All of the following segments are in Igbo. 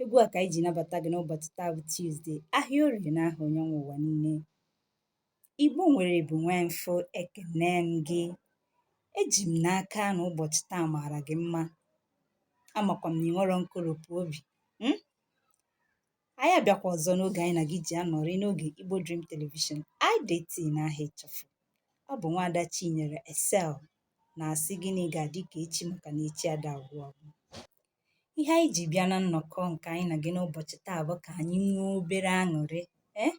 egwu a ka anyị ji nabata gị n'ụbọchị taa bụ Tuesday ahịa orie na aha onye nwe ụwa niile igbo nwere bụ nwee mfụ ekene m gị eji m n'aka na ụbọchị taa maara gị mma amakwa m na ị nwerọ nkoropụ obi hmm? anyị abịakwa ọzọ n'oge anyị na gị ji anọrị n'oge Igbo Dream Television IDT na aha ịchafụ ọ bụ nwaada Chinyere Excel na-asị gị na ị ga-adị ka echi maka na echi ada agwụ agwụ ihe anyị ji bịa na nnọkọ nke anyị na gị n'ụbọchị taa bụ ka anyị nwee obere aṅụrị ee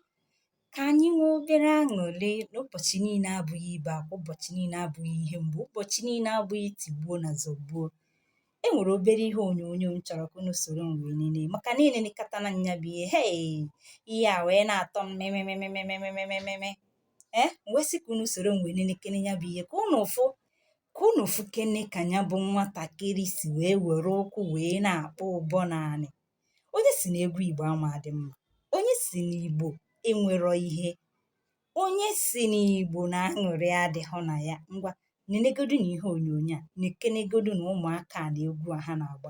ka anyị nwee obere aṅụrị n'ụbọchị niile abụghị ibe akwa ụbọchị niile abụghị ihe mgbe ụbọchị niile abụghị tigbuo na zọgbuo e nwere obere ihe onyonyo m chọrọ ka unu soro m wee nene maka na enenekata na nya bụ ihe hei ihe a wee na-atọ m mememememememememe m wee sị ka unu soro m wee nenekene ya bụ ihe ka unu fụ ka unu fụkene ka ya bụ nwatakịrị si wee were ụkwụ wee na-akpọ ụbọ n'anị onye sị na egwu igbo ama adị mma onye sị na igbo enwerọ ihe onye sị na igbo na aṅụrị adịghị na ya ngwa nenegodu na ihe onyonyo a nekenegodu na ụmụaka a na egwu a ha na-agba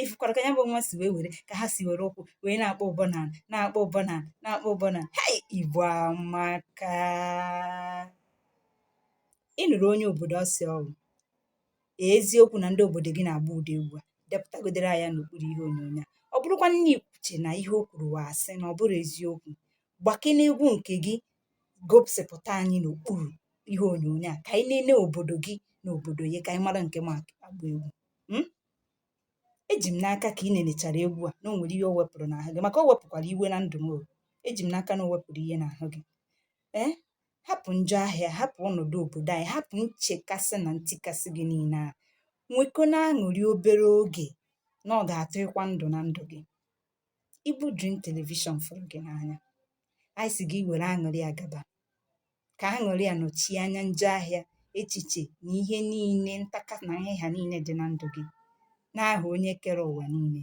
ị fụkwara ka ya bụ nwa si wee were ka ha si were ụkwụ wee na-akpọ ụbọ na na-akpọ ụbọ na na-akpọ ụbọ na hei igbo amaka ị nụrụ onye obodo ọ sị ọ wụ eziokwu na ndị obodo gị na-agba ụdị egwu a depụtagodere ya n'okpuru ihe onyonyo a ọ bụrụkwa na ị kwuche na ihe o kwuru wụ asị na ọ bụrọ eziokwu gbakene egwu nke gị gosipụta anyị n'okpuru ihe onyonyo a ka anyị nene obodo gị na obodo ya ka anyị mara nke ma agba egwu hmm? eji m n'aka ka ị nenechara egwu a na o nwere ihe o wepụrụ n'ahụ gị maka o wepụkwara iwe na ndụ m eji m n'aka na o wepụrụ ihe n'ahụ gị ee eh? hapụ njọ ahịa hapụ ọnọdụ obodo anyị hapụ nchekasị na ntikasị gị niile a nwekene aṅụrị obere oge na ọ ga-atọ ịkwa ndụ na ndụ gị Igbo Dream Television fụrụ gị n'anya anyị sị gị were aṅụrị a gaba ka aṅụrị a nọchie anya njọ ahịa echiche na ihe niile ntaka na ihe ha niile dị na ndụ gị n'aha onye kere ụwa niile